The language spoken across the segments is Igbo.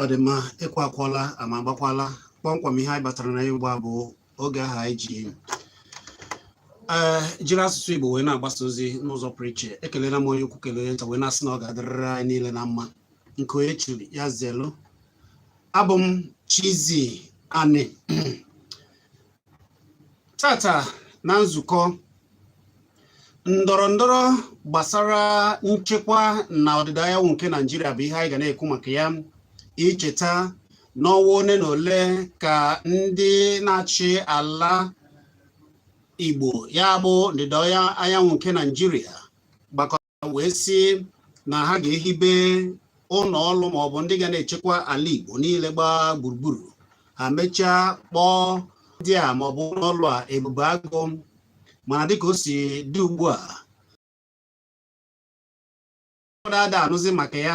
ọ dị mma ekwe akụọla ama agbakwala kpọmkwem ihe anyị batara na ya ugbu a bụ oge ahụ anyị ji ee jiri asụsụ igbo wee na-agbasa ozi n'ụzọ pụrụ iche ekelela m onye ukwu kelee nta wee na-asị na ọ ga-adịrịrị anyị niile na mma nke onye chiri ya zelu abụ m Chizzy Ani taata na nzukọ ndọrọ ndọrọ gbasara nchekwa na ọdịda anyanwụ nke Naijiria bụ ihe anyị ga na-ekwu maka ya icheta n'ọnwa one na ole ka ndị na-achị ala Igbo ya bụ ndịda anyanwụ nke Naijiria wee sị na ha ga-ehibe ụlọ ọrụ ma ọ bụ ndị ga na-echekwa ala Igbo niile gbaa gburugburu ha mechaa kpọọ ndị a ma ọ bụ ụlọ ọrụ a ebube agụ mana dịka o si dị ugbu a ụfọdụ ada anụzi maka ya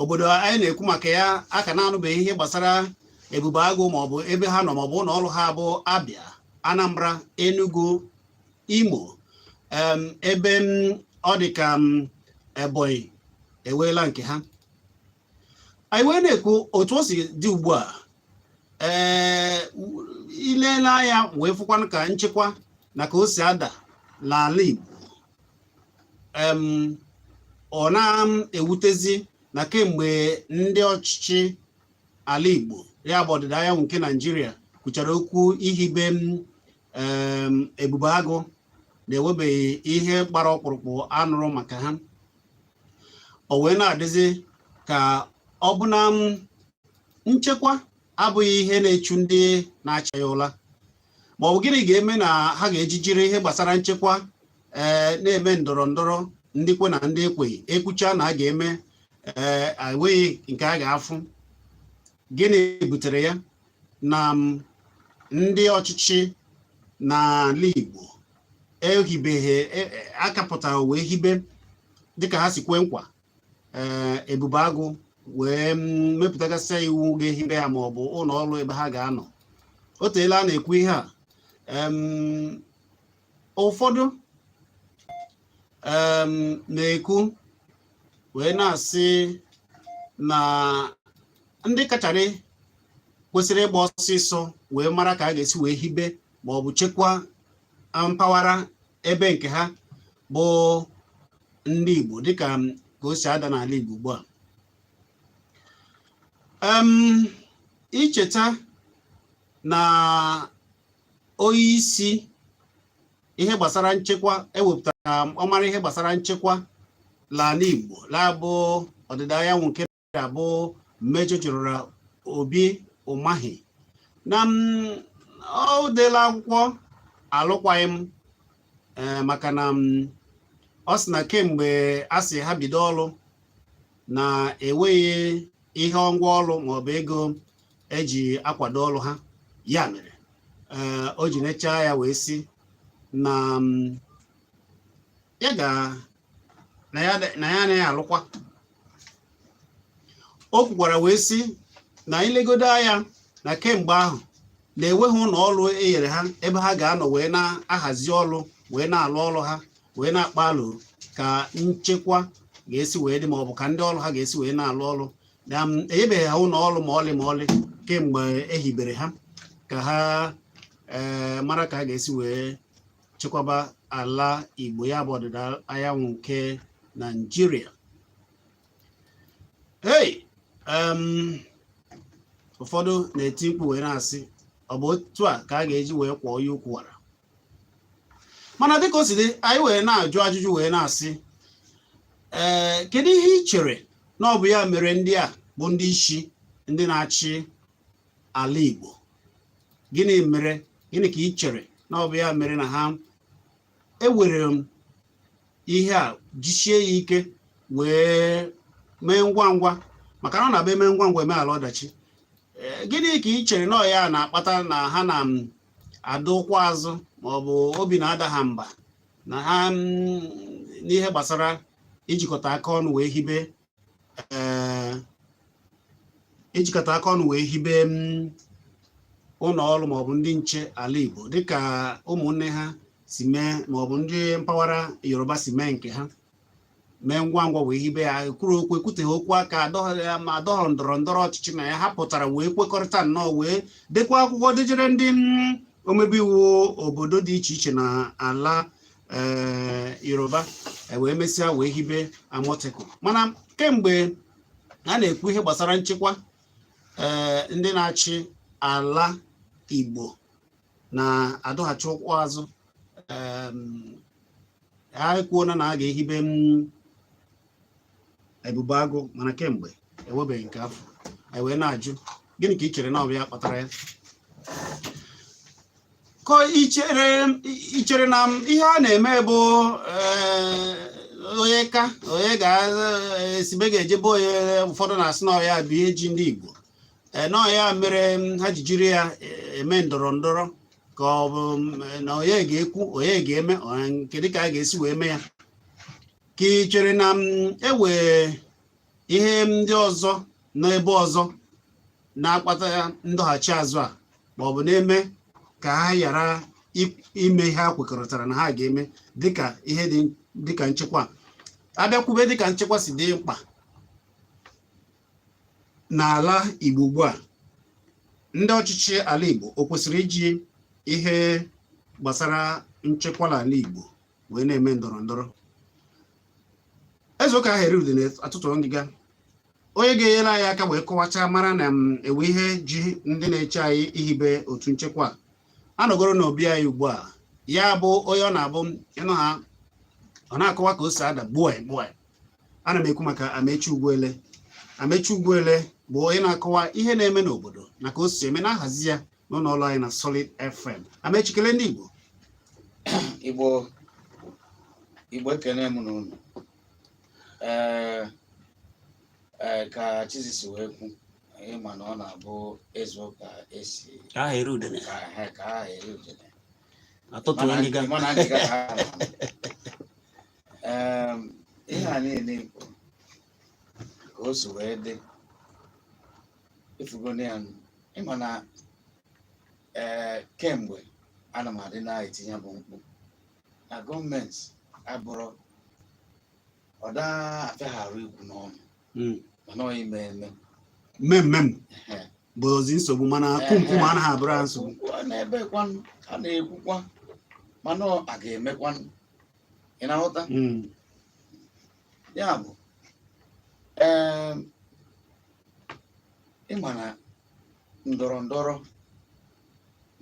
obodo anyị na-ekwu maka ya a ka na-anụbeghị ihe gbasara ebube agụ maọbụ ebe ha nọ maọbụ ụlọ ọrụ ha bụ abịa anambra enugu imo ebe ọ dị ka ebonyi eweela nke ha anyị wee na-ekwu otu o si dị ugbu a ee ileela anya wee fụkwanụ ka nchekwa na ka o si ada n'ala igbo ọ na-ewutezi na kemgbe ndị ọchịchị ala Igbo ya bụ ọdịda anyanwụ nke Naijiria kwuchara okwu ihibe ebube agụ na enwebeghị ihe gbara ọkpụrụkpụ a nụrụ maka ha o wee na-adịzi ka ọ bụ na nchekwa abụghị ihe na-echu ndị na-achị anyị ụla ma ọ bụ gịnị ga-eme na ha ga-eji jiri ihe gbasara nchekwa ee eh, na-eme ndọrọ ndọrọ ndị kwe na ndị ekweghị ekwucha na a ga-eme ee eh, enweghị nke a ga-afụ gịnị butere ya na mm, ndị ọchịchị n'ala Igbo ehibeghị e, e, akapụtara wee hibe dịka ha si kwe nkwa ee ebube agụ wee mm, mepụtagasịa iwu ga-ehibe ya ma ọ bụ ụlọ ọrụ ebe ha ga-anọ o teela a na-ekwu ihe a em, ụfọdụ em, na-ekwu wee na-asị na ndị kacharị kwesịrị ịgba ọsịsọ wee mara ka a ga-esi wee hibe ma ọ bụ chekwa mpaghara ebe nke ha bụ ndị Igbo dịka ka o si ada n'ala Igbo ugbu a icheta na onye isi ihe gbasara nchekwa e wepụtara ọ mara ihe gbasara nchekwa n'ala Igbo ya bụ ọdịda anyanwụ nke Naịjirịa bụ Major General Obi Umahi na o deela akwụkwọ alụkwaghị m eh, maka na ọ sị na kemgbe a sị ha bido ọrụ na enweghị ihe ngwa ọrụ maọbụ ego eji akwado ọrụ ha ya mere eh, o ji nechaa ya wee sị na ya ga na ya anaghị alụkwa o kwukwara wee sị na i legodo anya na kemgbe ahụ na-enweghị ụlọ ọrụ e nyere ha ebe ha ga-anọ wee na-ahazi ọrụ wee na-alụ ọrụ ha wee na-akpa alo ka nchekwa ga-esi wee dị ma ọ bụ ka ndị ọrụ ha ga-esi wee na-alụ ọrụ na um, enyebeghị ha ụlọ ọrụ ma ọlị ma ọlị kemgbe e hibere ha ka ha eh, mara ka a ga-esi wee chekwaba ala Igbo ya bụ ọdịda anyanwụ nke Naijiria hey um, ụfọdụ na-eti mkpu wee na-asị ọ bụ otu a ka a ga-eji wee kwọọ onye ukwu wara mana dịka o si dị anyị wee na-ajụ ajụjụ wee na-asị ee eh, kedu ihe i chere na ọ bụ ya mere ndị a bụ ndị isi ndị na-achị ala Igbo gịnị mere gịnị ka i chere na ọ bụ ya mere na ha ewere m ihe a jisie ya ike wee mee ngwa ngwa maka na ọ na-abụ e mee ngwa ngwa e meghala ọdachi eh, gịnị ka i chere na ọ ya na-akpata na ha na-adọ ụkwụ azụ ma ọ bụ obi na-ada ha mba na ha mm, n'ihe gbasara ijikọta aka ọnụ wee hibe ee ijikọta aka ọnụ wee hibe mm, ụlọ ọrụ maọbụ ndị nche ala Igbo dịka ụmụnne ha si mee maọbụ ndị mpaghara Yoruba si mee nke ha mee ngwa ngwa wee hibe ya kwuru okwu ekwuteghị okwu aka adọghị ya ma adọghọ ndọrọ ndọrọ ọchịchị na ya ha pụtara wee kwekọrịta nnọọ wee dekwa akwụkwọ dejere ndị mm, omebe iwu obodo dị iche iche na ala Yoruba e wee mesịa wee hibe Amotekun mana kemgbe a na-ekwu ihe gbasara nchekwa ee ndị na-achị ala Igbo na-adọghachi ụkwụ azụ ha ekwuona na a ga-ehibe Ebube Agụ mana kemgbe enwebeghị nke a fụ anyị wee na-ajụ gịnị ka i chere na ọ bụ ya kpatara ya ka i chere na ihe a na-eme bụ eh, onye ka onye ga-esi be eh, ga-eje be onye ụfọdụ na-asị na ọ ya bụ ihe ji ndị Igbo eh, na ọ ya mere mm, ha ji jiri ya eme ndọrọ ndọrọ ka ọ bụ mm, na onye ga-ekwu onye ga-eme nke dịka a ga-esi wee mee ya ka ị chere na e nwe ihe ndị ọzọ n'ebe ọzọ na-akpata ndọghachi azụ a ma ọ bụ na-eme ka ha ghara i- ime ihe ha kwekọrịtara na ha ga-eme dịka ihe dị dịka nchekwa abịakwube dịka nchekwa si dị mkpa n'ala Igbo ugbu a ndị ọchịchị ala Igbo o kwesịrị iji ihe gbasara nchekwa n'ala Igbo wee na-eme ndọrọ ndọrọ ezuo ka aha eri udene atọtuo ngịga onye ga-enyere anyị aka wee kọwachaa mara na m mm, e nwe ihe ji ndị na-achị anyị ihibe otu nchekwa anọgoro n'obi anyị ugbu a ya bụ onye ọ na-abụ ịnụ ha ọ na-akọwa ka o si ada gbuo gbuo ana m ekwu maka Amechi Ugwuele Amechi Ugwuele bụ onye na-akọwa ihe na-eme n'obodo na ka o si eme na-ahazi ya n'ụlọ ọrụ anyị na Solid FM Amechi kelee ndị Igbo Igbo Igbo ekene m unu ee ee ka Chizzy si wee kwu ịma na ọ na-abụ ezuo ka esi ka aha eri udene ka aha ka aha eri udene atọtuo Mana- ngịga mana ngịga ka ha na-anụ. Em, ihe a niile ikwu ka o si wee dị ị fụgonụ ya ịma na ee eh, kemgbe ana m adị na-eti ya bụ mkpu na gọọmenti abụrụ ọ da afịa ha arụ ikwu n'ọnụ hmm. mana ọ ime eme mmemme bụzi nsogbu mana kwumkwum anaghị abụrụ ha nsogbu na ebe kwanụ a na-ekwukwa mana a ga-emekwanụ ị na-aghọta hmm. ya bụ ịma na ndọrọ ndọrọ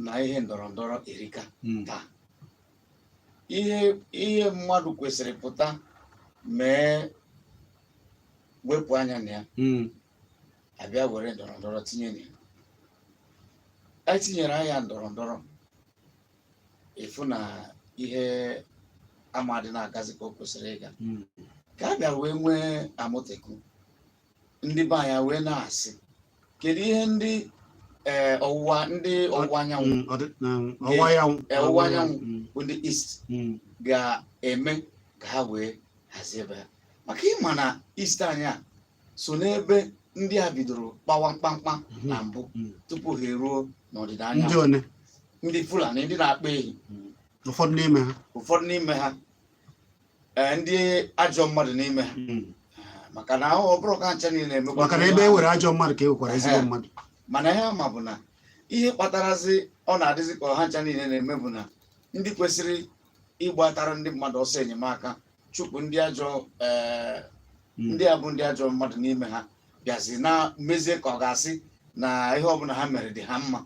na ihe ndọrọ ndọrọ erika hmm. taa ihe ihe mmadụ kwesịrị pụta mee wepụ anya na ya hmm. abịa were ndọrọ ndọrọ tinye na ya etinyere anya ndọrọ ndọrọ ịfụ na ihe ama adị na-agazi ka o kwesịrị ịga hmm. ka a bịara wee nwee Amotekun ndị be anyị wee na-asị kedu ihe ndị eh, ọwụwa ndị ọwụwa anyanwụ hmm, ọwụwa eh, anyanwụ hmm. bụ ndị east ga-eme ka ha wee hazie ebe ha maka ịma na east anyị a so n'ebe ndị a bidoro kpawa mkpamkpa mhm. na mbụ mhm. tupu ha eruo n'ọdịda anyanwụ ndị Fulani ndị na-akpa ehi mhm. ụfọdụ n'ime ha ụfọdụ n'ime ha eh, ndị ajọ mmadụ n'ime ha eh, maka na ọ bụrọ ha ncha niile emekwa maka na ebe e nwere ajọ mmadụ ka e nwekwara ezigbo eh, mmadụ mana ihe m ma bụ na ihe kpatarazi ọ na-adịzi ka ọ ha ncha niile na-eme bụ na ndị kwesịrị ịgbatara ndị mmadụ ọsọ enyemaka chụpụ ndị ajọ ee hmm. ndị a bụ ndị ajọ mmadụ n'ime ha bịazie na-emezi ka ọ ga-asị na ihe ọbụla ha mere dị ha mma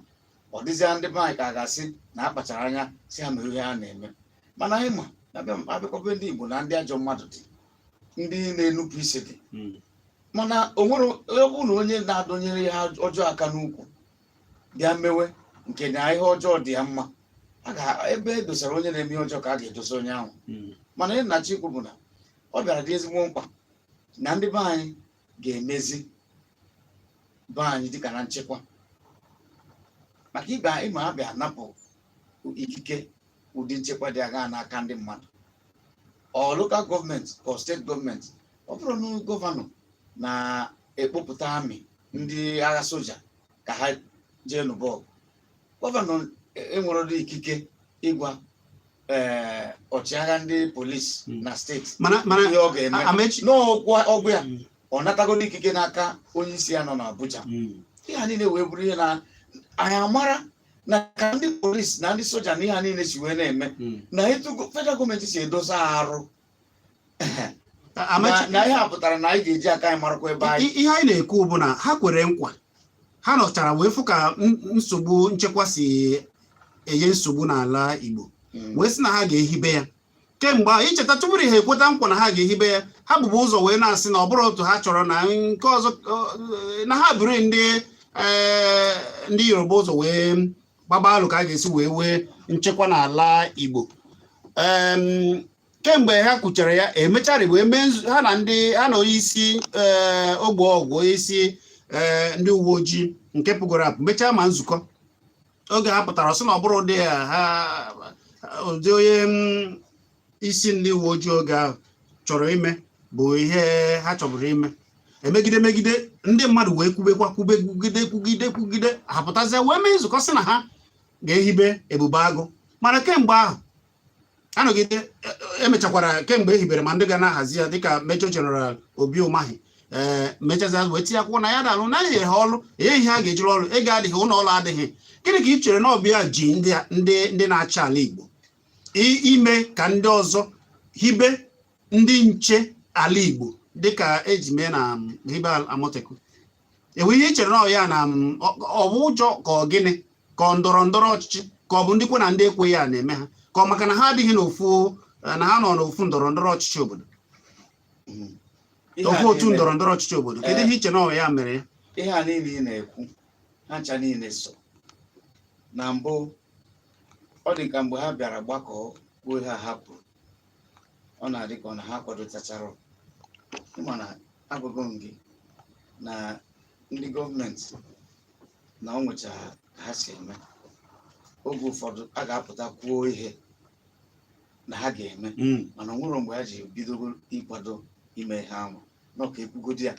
ọ dịzịa ndị be anyị ka a ga-asị na a kpachara anya sị ha mere ihe ha na-eme mana anyị ma na a bịakwa be ndị Igbo na ndị ajọ mmadụ dị ndị na-enupụ isi dị hmm. mana o nwere ọ bụ na onye na-adọnyere ihe ọjọọ aka n'ukwu bịa mewe nke na ihe ọjọọ dị ya mma a ga ebe e dosara onye na-eme ihe ọjọọ ka a ga-edosa onye ahụ Mm. mana ihe m na-achọ ikwu bụ na ọ bịara dị ezigbo mkpa na ndị be anyị ga-emezi be anyị dịka na nchekwa maka ị ma a bịa napụ ikike ụdị nchekwa dị agha n'aka ndị mmadụ ọ lokal gọọmenti ka ọ steeti gọọmenti ọ bụrọ na gọvanọ na-ekpopụta amị ndị agha soja ka ha jee lụba ọgụ gọvanọ enwerọdị ikike ịgwa ee ọchịagha ndị polisi Mm. na steeti mana mana ihe ọ ga-eme a- amechi na ọ gwa ọ gwa ya Mm, ọ natagodu ikike n'aka onye isi ya nọ n'Abuja mm. ihe a niile wee bụrụ ihe na anyị amara na ka ndị polisi na ndị soja na ihe a niile si wee na-eme Mm, na etu go- federal gọọmenti si edosa arụ na ihe a pụtara na anyị ga-eji aka anyị marakwa ebe anyị ihe anyị na-ekwu bụ na ha kwere nkwa ha nọchara wee fụ ka nsogbu nchekwa si enye nsogbu n'ala Igbo hmm. wee sị na ha ga-ehibe ya kemgbe ahụ i cheta tupu ha ekweta nkwa na ha ga-ehibe ya ha bubu ụzọ wee na-asị na ọ bụrọ otu ha chọrọ na nke ọzọ na ha buru ndị e, ndị Yoruba ụzọ wee gbaba alo ka a ga-esi wee nwee nchekwa n'ala Igbo kemgbe ha kwuchara ya emechara bụ eme ha na ndị ha na onye isi eh, ogbe ọgwụ onye isi eh, ndị uwe ojii nke pụgoro apụ mechaa ma nzukọ oge ha pụtara sị na ọ bụrọ ụdị ya ha ụdị onye mm, isi ndị uwe ojii oge ahụ chọrọ ime bụ ihe ha chọburu ime e megide megide ndị mmadụ wee kwubekwa kwube kwugide kwugide kwugide ha pụtazie wee mee nzukọ sị na ha ga-ehibe Ebube Agụ mana kemgbe ahụ a nọgide emechakwara e, e kemgbe e hibere ma ndị ga na-ahazi ya dịka Major General Obi Umahi ee mechazi wee tinye akwụkwọ na ya dalụ na e nye ha ọrụ enyeghị ihe a ga-eji rụ ọrụ ego adịghị ụlọ ọrụ adịghị gịnị ka ị chere na ọ bụ ya ji ndị na-achị ala Igbo ime ka ndị ọzọ hibe ndị nche ala Igbo dịka e ji mee na um, hibe Amotekun enwe ihe i chere na ọ ya na mm, ọ- ọ bụ ụjọ ka ọ gịnị ka ọ ndọrọ ndọrọ ọchịchị ka ọ bụ ndị kwe na ndị ekweghị a na-eme ha ka ọ maka na ha adịghị n'ofu eh, na ha nọ n'ofu ndọrọ ndọrọ ọchịchị obodo Ihe a ofu otu niile- ndọrọ ndọrọ ọchịchị obodo kedu Eh. ihe i che na ọ ya mere ya ihe a niile ị na-ekwu ha ncha niile so na mbụ ọ dị ka mgbe ha bịara gbakọọ kwuo ha hapụrụ ọ na-adị ka ọ na ha kwadotachara mana agwago m gị na ndị gọọmenti na o nwecha ka ha si eme oge ụfọdụ a ga-apụta kwuo ihe na ha ga-eme Mm. mana o nwere mgbe ha ji bidogo ịkwado ime ihe ahụ n'ọka ekwugodi ya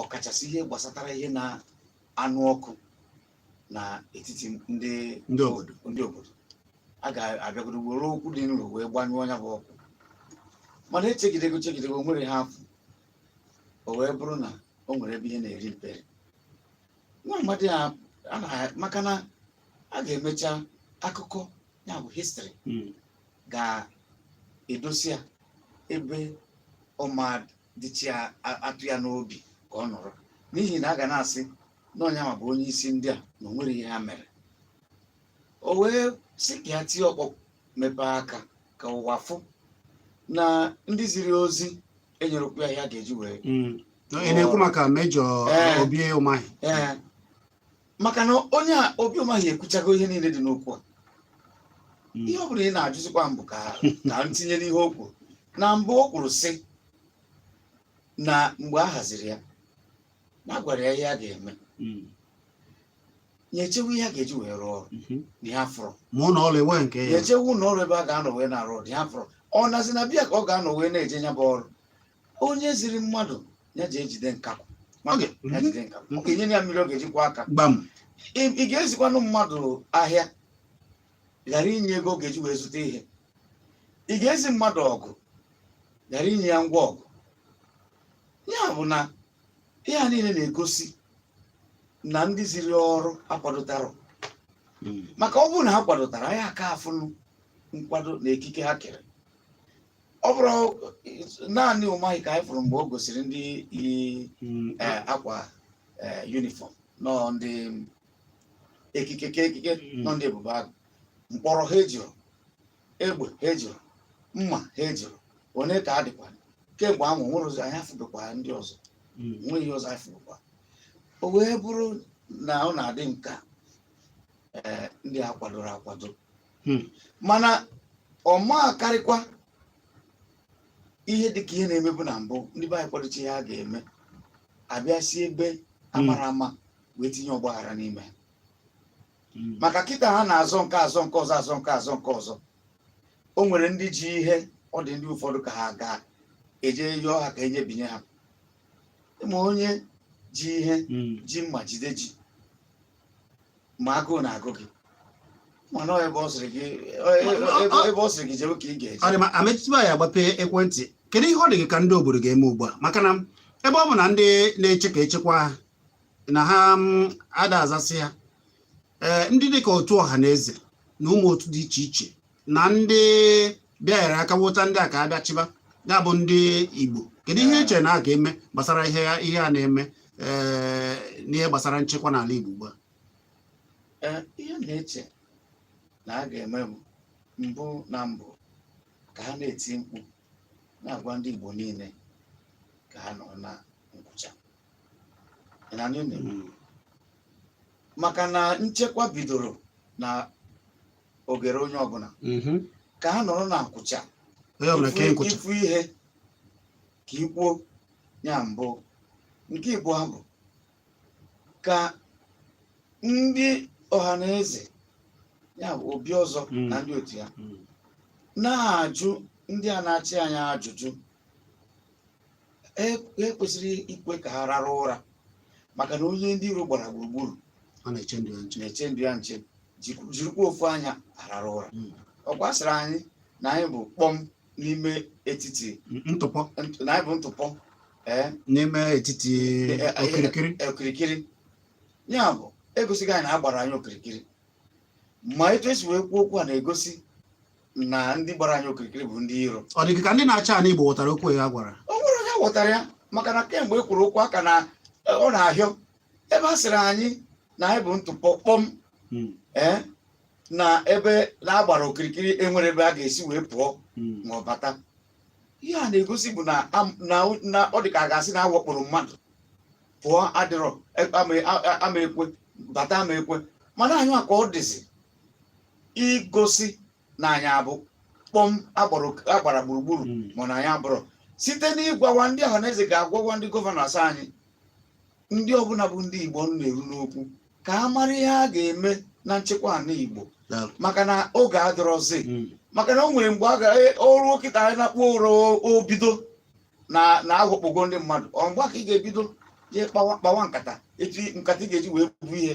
ọkachasị ihe gbasatara ihe na-anụ ọkụ n'etiti ndị ndị obodo ndị obodo a ga-abịagodo were okwu dị nro wee gbanyụọ nya bụ ọkụ mana echegidego chegidego nwero ihe a fụ o wee bụrụ na o nwere ebe ihe na-eri mperi nwa amadị a na maka na a ga-emecha akụkọ ya bụ histrị hmm. ga-edosi ya ebe ọ ma-adịcha atọ ya n'obi ka ọ nọrọ n'ihi na a ga na-asị na ọ nyanwa bụ onye isi ndị a na o nwere ihe ha mere o wee sị ka ya tie ọkpọ mepee aka ka ụwa fụ na ndị ziri ozi enyerokwu ya ihe a ga-eji wee Mm. ị na-ekwu maka Major Ee. Obi Umahi ee maka na onye a Obi Umahi ekwuchago ihe niile dị n'okwu a Mm. ihe ọ bụla ị na-ajụzikwa m bụ ka ka m tinye n'ihe o kwuru na mbụ o kwuru sị na mgbe a ha ziri ya na a gwara ya ihe a ga-eme Mm. ya echewe ihe a ga-eji wee rụọ ọrụ Mhm. na ya afụrọ ma ụlọ ọrụ enweghị nke ya ya echewe ụlọ ọrụ ebe a ga-anọ wee na-arụ ọrụ ya afụrọ ọ nazi na be ya ka ọ ga-anọ wee na-eje ya bụ ọrụ onye ziri mmadụ ya jee jide nkakwu Oge. ya jide nkakwu ọ ga-enye ya mmiri ọ ga-eji kwọọ aka gbam ị ị ga-ezikwanụ mmadụ ahịa ghara inye ego ọ ga-eji wee zụta ihe ị ga-ezi mmadụ ọgụ ghara inye ya ngwa ọgụ ya bụ na ihe a niile na-egosi na ndị ziri ọrụ akwadotarọ Mm. maka ọ bụrụ na ha kwadotara anyị aka-afụnụ nkwado na ekike ha kere ọ bụrụ naanị Umahi ka anyị fụrụ mgbe o gosiri ndị yi Mm. eh, akwa eh, yunifọm nọ ndị ekike ka ekike Mm. nọ ndị Ebube Agụ mkpọrọ ha ejiro egbe ha ejiro mma ha ejiro onye ka a dịkwa kemgbe ahụ nwere ụzọ anyị afụbekwa ndị ọzọ hmm. nweghị ihe ọzọ anyị fụbekwa o wee bụrụ na ọ na-adị m ka eh, ndị a kwadoro akwado hmm. mana ọ ma-akarịkwa ihe dịka ihe na-emebu na mbụ ndị be anyị kwadocha ihe a ga-eme a bịa si ebe amarọ hmm. ama wee tinye ọgbaghara n'ime hmm. maka kịta ha na-azọ nke a azọ nke ọzọ azọ nke a azọ nke ọzọ o nwere ndị ji ihe ọ dị ndị ụfọdụ ka ha ga-eje yọọ ha ka enye binye ha ma onye ji ihe hmm. ji mma jide ji ma agụụ na-agụ gị mana ebe ọ sịrị gị ebe ọ sịrị gị jewe ka ị ga-eje ọ dị mma ametụtụ ya agbape ekwentị kedu ihe ọ dị gị ka ndị obodo ga-eme ugbu a maka na ebe ọ bụ na ndị na-eche ka echekwa na ha mm, ada azasị ha ee ndị dịka otu ọha na eze na ụmụ otu dị iche iche na ndị bịanyere aka wota ndị a ka ha bịa chịba ya bụ ndị igbo kedu ihe i che na a ga-eme gbasara ihe ihe a na-eme ee n'ihe gbasara nchekwa n'ala igbo ugbu a Ee, ihe na-eche na a ga-eme bụ mbụ na mbụ ka ha na-eti mkpu na-agwa ndị Igbo niile ka ha nọ na nkwụcha Ị na-anụ ihe m na-ekwu? Mm. maka na nchekwa bidoro na ogere onye ọbụla Mhm. ka ha nọrọ na nkwụcha onye ọbụla ka ịkwụ- ị fụ ihe ka i kwuo ya mbụ nke ịbụa bụ ka ndị ọha na eze ya bụ Obiọzọ Mm. na ndị otu ya Mm. na-ajụ ndị a na-achị anyị ajụjụ e kwesịrị ikwe ka ha rara ụra maka na onye ndị iro gbara gburugburu ọ na-eche ndụ ya nche na-eche ndụ ya nche jikwu- jirikwa ofu anya arara ụra Mm. ọ gwasịrị anyị na anyị bụ kpọm n'ime etiti M- ntụpọ nt- na anyị bụ ntụpọ ee n'ime etiti Eh, eh, okirikiri eh, okirikiri ya bụ egosigo anyị na a gbara anyị okirikiri ma etu e si wee kwuo okwu a na-egosi na ndị gbara anyị okirikiri bụ ndị iro ọ dị ka ndị na-achị ala Igbo ghọtara okwu ya gwara o nwere onye ghọtara ya maka na kemgbe e kwuru okwu a ka na e, ọ na-ahịọ ebe a sịrị anyị na anyị bụ ntụpọ kpọm hmm. e, na ebe na a gbara okirikiri enwerọ ebe a ga-esi wee pụọ hmm. ma ọ bata ihe a na-egosi bụ na ọ dị ka a ga-asị na a wakporo mmadụ pụọ adịrọ e, ama ekwe bata ama ekwe mana anyị ka ọ dịzi igosi na anyị bụ kpọm a gbara gburugburu hmm. ma na anyị abụrọ site n'ịgwawa ndị ọha na eze ga-agwawa ndị gọvanọs anyị ndị ọbụla bụ ndị Igbo na-eru n'okwu ka a mara ihe a ga-eme na nchekwa ala Igbo maka na oge adịrọzi hmm. maka na o nwere mgbe a ga e, eru kịta anyị na-akpọ ụrọ o bido na aghọkpogo ndị mmadụ ọ mgbe a ka ị ga-ebido jee kpawa nkata etu nkata ị ga-eji wee bu ihe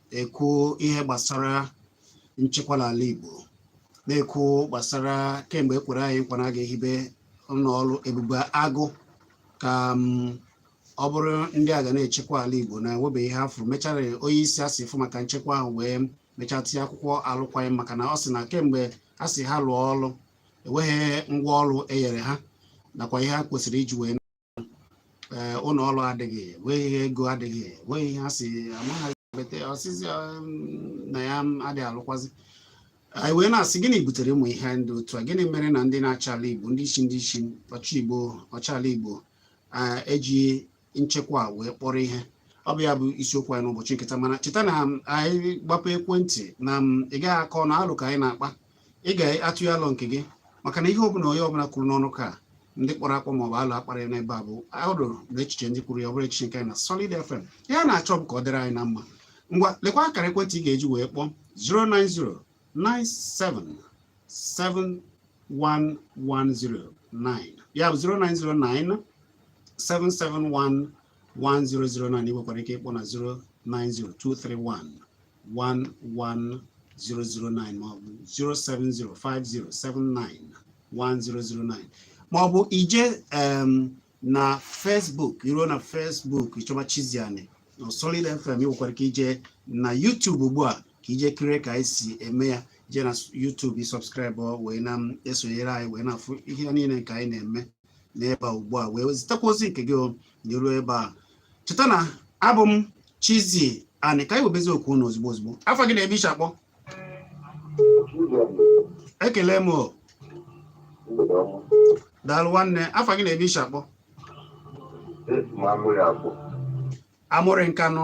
ekwu ihe gbasara nchekwa n'ala Igbo na-ekwu gbasara kemgbe e kwere anyị nkwa na a ga-ehibe ụlọọrụ ebube agụ ka mm, ọ bụrụ ndị a ga na-echekwa ala Igbo na enwebeghị ihe a fụrụ mechara onye isi a sị fụ maka nchekwa ahụ wee mechaa tinye akwụkwọ alụkwaghị m maka na ọ sị na kemgbe a sị ha lụọ ọrụ enweghị ngwa ọrụ e nyere ha nakwa ihe ha kwesịrị iji wee ee ụlọ ọrụ adịghị nwee ihe ego adịghị nwee ihe ha si amaghị bete ọsịsị um, na ya adịghị alụkwazi anyị wee na-asị gịnị butere ụmụ ihe ndị otu a gịnị mere na ndị na-achị ala igbo ndị isi ndị isi ọchị igbo ọchị ala igbo ah, eji nchekwa a wee kpọrọ ihe ọ bụ ya bụ isiokwu anyị n'ụbọchị nke taa mana cheta na um, anyị gbapee ekwentị na um, ị gaghị akọ ọnụ alo ka anyị na-akpa ị ga-atụnye alo nke gị maka na ihe ọbụla onye ọbụla kwuru n'ọnụ ka ndị kpọrọ akpọ maọbụ alo a kpara n'ebe a bụ alo na echiche ndị kwuru ya ọ bụrọ echiche nke anyị na Solid FM ihe a na-achọ bụ ka ọ dịrị anyị na mma ngwa lekwa akara ekwentị ị ga-eji wee kpọọ 09097711009 ya bụ 0909 771 1009 ị nwekwara ike ịkpọ na 090231 11009 maọbụ 07050791009 maọbụ i jee em, na Facebook i ruo na Facebook ị chọba Chizzy Ani na Solid FM ị nwekwara ike ije na YouTube ugbu a ka i jee kirie ka anyị si eme ya jee na YouTube ị subscribe wee na-esonyere anyị wee na-afụ ihe niile nke anyị na-eme n'ebe a ugbu a wee zitekwa ozi nke gị o nyeruo ebe a cheta na abụ m Chizzy Ani ka anyị webezi oku unu ozugbo ozugbo afa gị na ebe i si akpọ ekele m daalụ nwanne afa gị na ebe i si akpọ Amụrị Nkanụ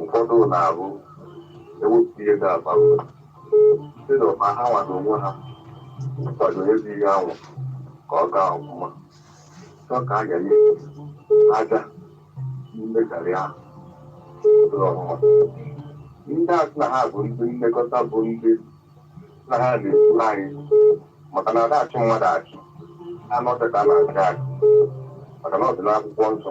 ụfọdụ na-abụ e wepụta ihe ga-aba mba sị na ma ha nwa n'onwe ha kwado ezi ihe ahụ ka ọ gaa ọfụma chọọ ka a ga-enye aja mmekari ahụ ụlọ ọmụma ndị a sị na ha bụ ndị nlekọta bụ ndị na ha na-ekwuru anyị maka na ada achị mmadụ achị anụ ka a na-achị achị maka na ọ dị n'akwụkwọ nsọ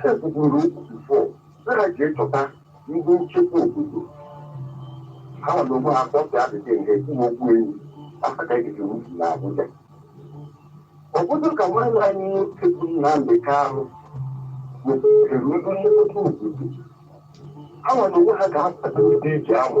ha kwukwuru okwu before na ha ji echọta ndị nchekwa obodo ha nwa n'onwe ha kpọpịa adịdị nke kwuo okwu enyi afọ ka ejizi wufu na Abuja ọ bụrụ ka nwanne anyị nwoke bụ Nnamdị Kanụ wepụtara ndị nlekọta obodo ha nwa n'onwe ha ga-akwado ndị eji ahụ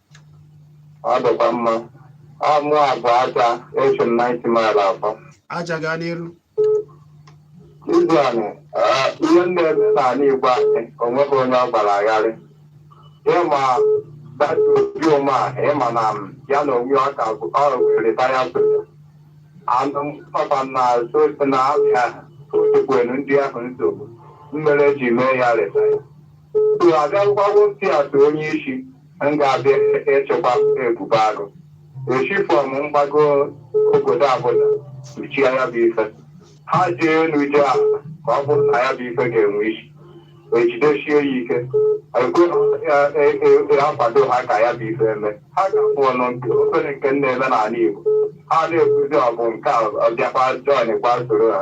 Ọ dịkwa mma. Ọ mụ abụ aja esi m na Ninth Mile akpọ. aja gaa n'iru Izu anị, ah, ihe na-eme n'ala Igbo anyị, o nweghị onye ọ gbara gharị. Ịma that Obi Umahi, ịma na m, ya na onwe ọ ka bụ ọ retired soja. Anụ m papa na sosi na abịa otukwenu ndị ahụ nsogbu. Mere e ji mee ya retire. Tụ abịakwụkwọ ntị atụ onye isi. m ga-abịa ịchịkwa ebube agụ esi from mgbago obodo Abuja kpuchie ya bụ ife ha jee elu jee ala ka ọ bụrụ na ya bụ ife ga-enwe isi ejidesie ya ike ekwe akwado ha ka ya bụ ife eme ha ga-abụ ọnụ nke obere nke na-eme n'ala Igbo ha na-ekwuzi ọgụ nke a ọbịakwa join kwa soro ha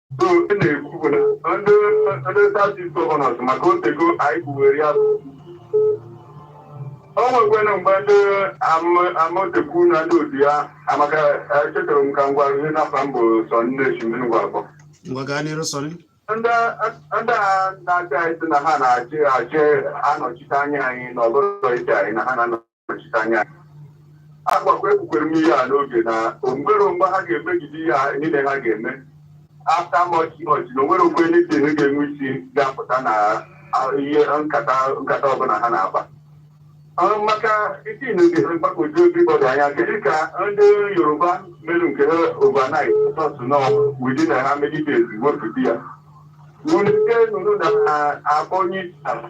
so e na-ekwu na ndị ndị southeast gọvanọs maka otego anyị kwuwere ya bụ o nwekwena mgbe ndị am- Amotekun na ndị otu ya amaka echetara m ka m gwa gị na afa m bụ sọ nne chimiri ngwa akpọ ngwa gaa n'iru sọrị ndị ndị a na-achị anyị sị na ha na-achị achị anọchite anya anyị na ọ bụrọ ịchị anyị na ha na nọchite anya anyị. agbakwa ekwukwere m ihe a n'oge na onwere mgbe ha ga-emegide ihe a niile ha ga-eme after much much na onwere mgbe ndị ihe ga-enwe isi ga-apụta na a- ihe nkata nkata ọbụla ha na-akpa Ọ, maka isi na oge ha mgbagwoju everybody anya kedu ka ndị yoruba mere nke ha overnight sọsụ nọ within ha megidezie wepụta ya wulite nụnụ na akpọ onye isi ala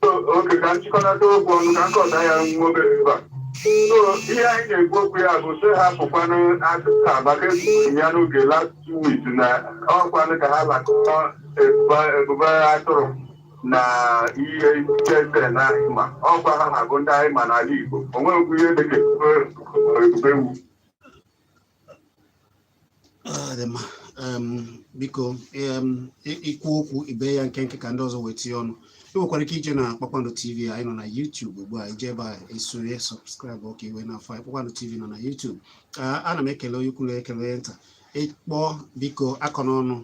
okay ka m chịkọnata okwu ọnụ ka m kọta ya nwa obere ebe a so ihe anyị na-ekwu okwu ya bụ so hapụkwanụ akụkọ a maka ekwuru ya n'oge last two weeks na ọkwanụ ka ha lakọọ ebube atụrụ na ESN anyị ma ọkwa ha na-abụ ndị anyị ma n'ala Igbo o nweghịkwu ihe dịka ebube ewu biko i kwuo okwu i bee ya nkenke ka ndị ọzọ wee tinye ọnụ ị nwekwara ike ije na kpakpando tv anyị nọ na YouTube ugbu a i jee ebe a esonye subscribe ọ ka i wee na-afụ anyị kpakpando tv nọ na YouTube ana m ekele onye ukwu na ekele nta ị kpọọ biko akọna ọnụ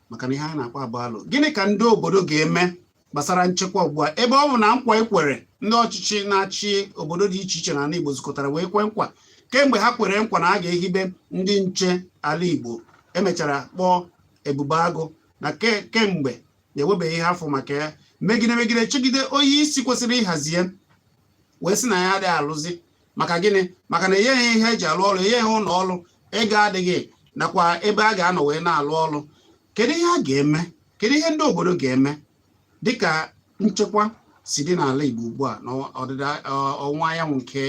maka na ihe anyị na-akpa bụ alo gịnị ka ndị obodo ga-eme gbasara nchekwa ugbu a ebe ọ bụ na nkwa ekwere ndị ọchịchị na-achị obodo dị iche iche n'ala Igbo zukọtara wee kwe nkwa kemgbe ha kwere nkwa na a ga-ehibe ndị nche ala Igbo emechara kpọọ Ebube Agụ na kemgbe na enwebeghị ihe a fụ maka ya megide megide chegide onye isi kwesịrị ịhazi ya wee sị na ya adịghị alụzi maka gịnị maka na enyeghị ihe eji alụ ọrụ enyeghị ụlọ ọrụ ego adịghị nakwa ebe a ga-anọ wee na-alụ ọrụ kedu ihe a ga-eme kedu ihe ndị obodo ga-eme dịka nchekwa si dị n'ala Igbo ugbu a na ndịda ọwụwa anyanwụ nke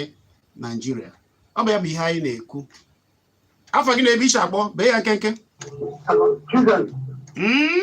Naijiria ọ bụ ya bụ ihe anyị na-ekwu afa gị na ebe i si akpọ bee ya nkenke hmm?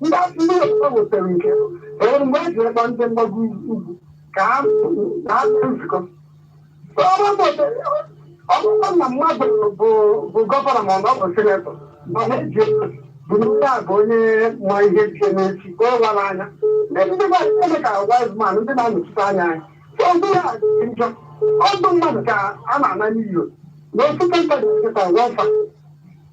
ndị ndị ọzọ wetara nke e nwere mgbe e ji akpọ ndị mgbago ugwu ka ha na ha mee nzukọ So, ọ bụrụ na ọ dị- ọ bụrụ na mmadụ bụ bụ gọvanọ ma ọ na ọ bụ sinetọ mana eji ego bụ ndị a bụ onye ma ihe ji eme echi ka ọ wara anya ndị ndị gwa ndị ka wise man ndị na-anọchite anya anyị so ndị ya dị njọ ọdụ mmadụ ka a na-ana n'iyo na ofu kọntaktị kịta wafa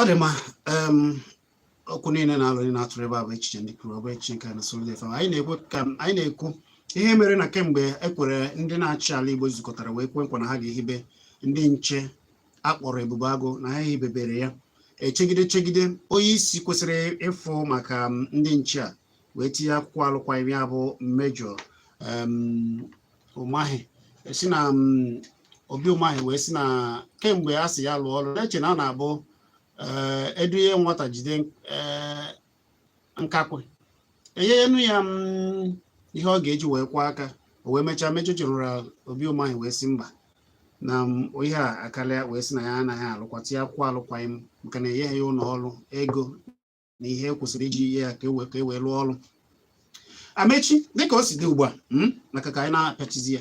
ọ dị mma okwu niile na alo a na-atụrụ ebe a bụ echiche ndị kwuru ọ bụghị echiche nke na solid fm anyị na-ekwu ka anyị na-ekwu ihe mere na kemgbe ekwere ndị na-achị ala igbo zukọtara wee kwe nkwa na ha ga-ehibe ndị nche akpọrọ ebube agụ na ha ehibebere ya echegide chegide onye isi kwesịrị ịfụ maka ndị nche a wee tinye akwụkwọ alụkwaghịm ya bụ Major Umahi si na mm, Obi Umahi wee si na kemgbe a sị ya lụọ ọrụ na-eche na ọ na-abụ eh, eduye nwata jide eh, nkakwụ enyenu ya mm, ihe ọ ga-eji wee kwọọ aka o wee mechaa Major General Obi Umahi wee si mba na mm, ihe a akarịa wee si na ya anaghị alụkwa tinye akwụkwọ alụkwaghịm maka na enyeghị ya ụlọ ọrụ ego na ihe e kwesịrị iji nye ya ka e wee ka e wee rụọ ọrụ Amechi dịka o si dị ugbu a hmm, maka ka anyị na-apịachizi ya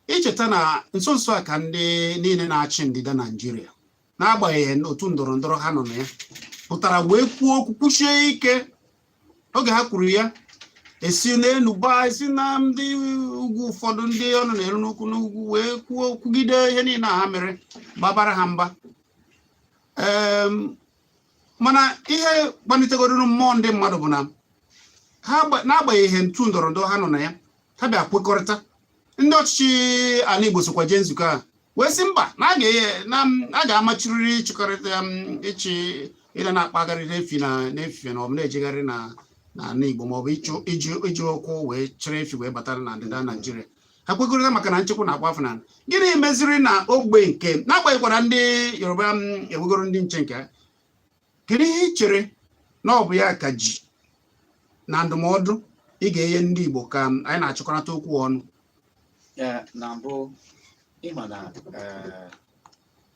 i cheta na nso nso a ka ndị niile na-achị ndịda naijiria n'agbanyeghị otu ndọrọ ndọrọ ha nọ na ya pụtara wee kwuo okwu kwusie ike oge ha kwuru ya esi n'elu gbaa esi na ndị ugwu ụfọdụ ndị ọnụ na-eru n'okwu n'ugwu wee kwuo kwugide ihe niile ha mere babara ha mba mana ihe gbanitegoruru mmụọ ndị mmadụ bụ na ha n'agbanyeghị otu ndọrọ ndọrọ ha nọ na ya ha bịa kwekọrịta ndị ọchịchị ala Igbo sokwa jee nzukọ a wee sị mba na a ga-amachiriri ịchịkọrịta um, ịchị ịda na-akpagharị n'efi na n'efife na ọ bụ na-ejegharị na n'ala Igbo maọbụ iji ụkwụ wee chịrị efi wee batara na ndịda Naijiria ha kwekọrịta maka na nchekwa na-agba afọ n'ala gịnị meziri na ogbe nke n'agbanyeghịkwara ndị yoruba enwegoro ndị nche nke ha kedu ihe ị chere na ọ bụ ya ka ji na ndụmọdụ ị ga-enye ndị igbo ka m, anyị na-achịkọrịta okwu ọnụ Ee, na mbụ ị ma na ee,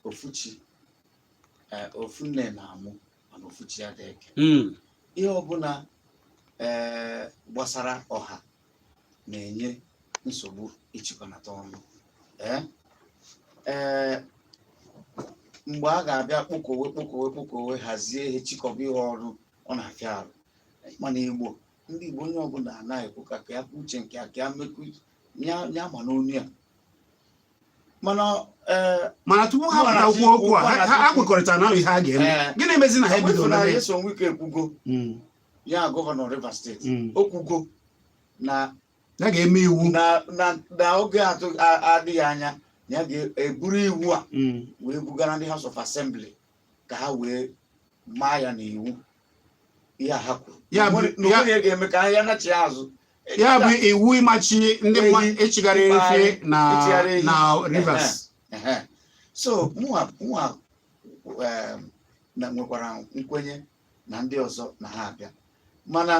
ofu chi ee, ofu nne na-amụ mana ofu chi adịghị eke ihe ọbụla ee, gbasara ọha na-enye nsogbu ịchịkọnata ọnụ ee ee mgbe a ga-abịa kpokọwe kpokọwe kpokọwe hazie ihe chịkọba ihe ọrụ ọ na-afịa arụ mana igbo ndị igbo onye ọbụla anaghị ekwu ka ka ya kwuo uche nke ya ka ya mekwu ya ya ma n'ọnụ ya mana ee mana tupu ha ọkwa na pụta ji- kwuo okwu a ọkwa na ha- ha ji- ha kwekọrịta na ihe a ga-eme Ee. gịnị mezi na ha ebido na Profesọ ya? Nyesom Wike ekwugo Mm. ya gọvanọ Rivers steeti mm. o kwugo na ya ga-eme iwu na oge adịghị anya ya ga-eburu iwu a mm. wee bugara ndị House of Assembly ka ha wee maa ya n'iwu ihe a ha kwuru ya bụ ga-eme ka ya nachi azụ ya bụ iwu ịmachi ndị mmadụ ịchịgharị efi na Rivers so mụnwa um, na nwekwara nkwenye na ndị ọzọ na ha abịa mana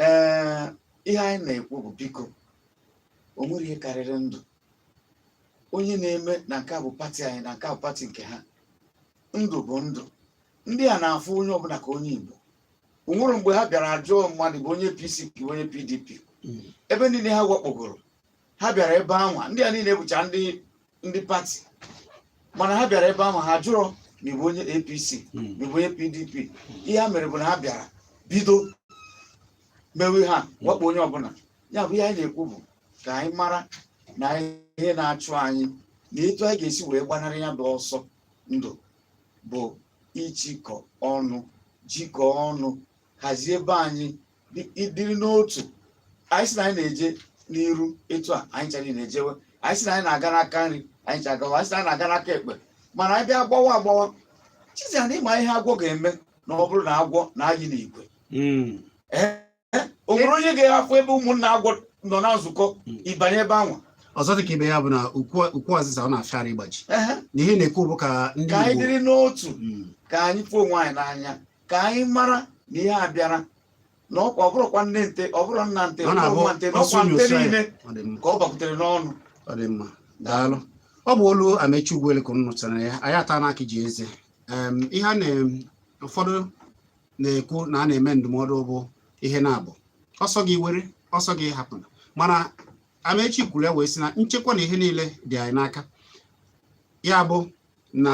ee ihe anyị na-ekwu bụ biko o nwere ihe karịrị ndụ onye na-eme na nke a bụ pati anyị na nke a bụ pati nke ha ndụ bụ ndụ ndị a na-afụ onye ọbụla ka onye Igbo o nwere mgbe ha bịara ajụọ mmadụ bụ onye APC bụ onye PDP ebe niile ha wakpogoro ha bịara ebe anwa ndị a niile bụcha ndị ndị pati mana ha bịara ebe anwa ha jụrụ ma ị bụ onye apc Hmm. ma ị bụ onye pdp ihe ha mere bụ na ha bịara bido mewe ha wakpo onye ọbụla ya bụ ihe anyị na-ekwu bụ ka anyị mara na ihe na-achụ anyị na etu anyị ga-esi wee gbanarị ya bụ ọsọ ndụ bụ ịchịkọ ọnụ jikọọ ọnụ hazie ebe anyị dị- ịdịrị n'otu anyị sị na anyị na-eje n'iru etu a anyị ncha ana-ejewe anyị sị na anyị na-aga n'aka nri anyị ncha agawa anyị sị na anyị na-aga n'aka ekpe mana anyị bịa gbawa agbawa chizia na ị ma ihe agwọ ga-eme na ọ bụrụ na agwọ na-ayị n'igwe Mm. o nwere onye ga-ahafụ ebe ụmụnna agwọ nọ na nzukọ ịbanye ebe anwa ọzọ dị ka ibe ya bụ na ukwu ukwu azịza ọ na-afịa arụ ịgbaji Ehe, na ihe na-ekwu bụ ka ndị ka anyị Igbo dịrị n'otu Mm. ka anyị fụ onwe anyị n'anya ka anyị mara na ihe a bịara na ọ bụrụkwa nne nte ọ bụrụ nna nte ọ bụrụ nwa nte na ọkwa nte niile ka ọ bakwutere n'ọnụ ọ dị mma daalụ ọ bụ olu amechi ugwuele ka unu nụchara ya anyị ata n'aka ji eze ihe a na ụfọdụ na-ekwu na a na-eme ndụmọdụ bụ ihe na-abụ ọ sọ gị were ọ sọ gị hapụ mana amechi kwuru ya wee sị na nchekwa na ihe niile dị anyị n'aka ya bụ na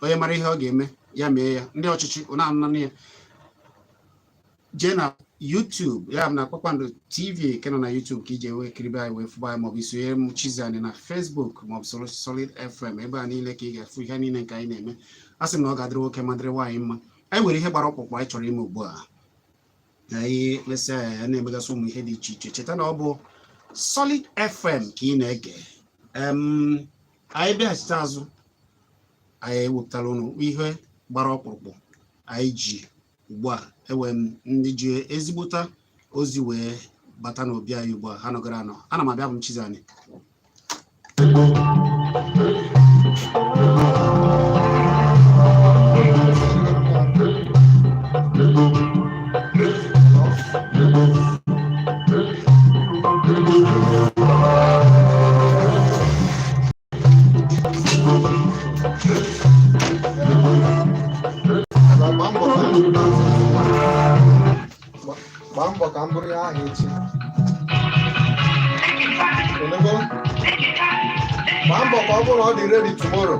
onye mara ihe ọ ga-eme ya mee ya ndị ọchịchị ụna anụnanụ ya jee na YouTube ya na Kpakpando TV nke nọ na YouTube ka i je wee kiribe anyị wee fụba anyị maọbụ i sonyere m Chizzy Ani na Facebook maọbụ soro Solid FM ebe a niile ka ị ga-afụ ihe niile nke anyị na-eme a sị m na ọ ga-adịrị nwoke ma dịrị nwaanyị mma anyị nwere ihe gbara ọkpụrụkpụ anyị chọrọ ime ugbu a anyị lesịa ya na-emegasị ụmụ ihe dị iche iche cheta na ọ bụ Solid FM ka ị na-ege anyị bịachite azụ anyị ewepụtara ụnụ ihe gbara ọkpụrụkpụ anyị ji ugbu a enwe m ndị ji ezigbota ozi wee bata n'obi anyị ugbu a ha nọgara anọ ana m abịa bụ m Chizzy Ani gbaa mbọ ka m buru ya ahụ echi ị nụgo? gbaa mbọ ka ọ bụrụ na ọ dị ready tomorrow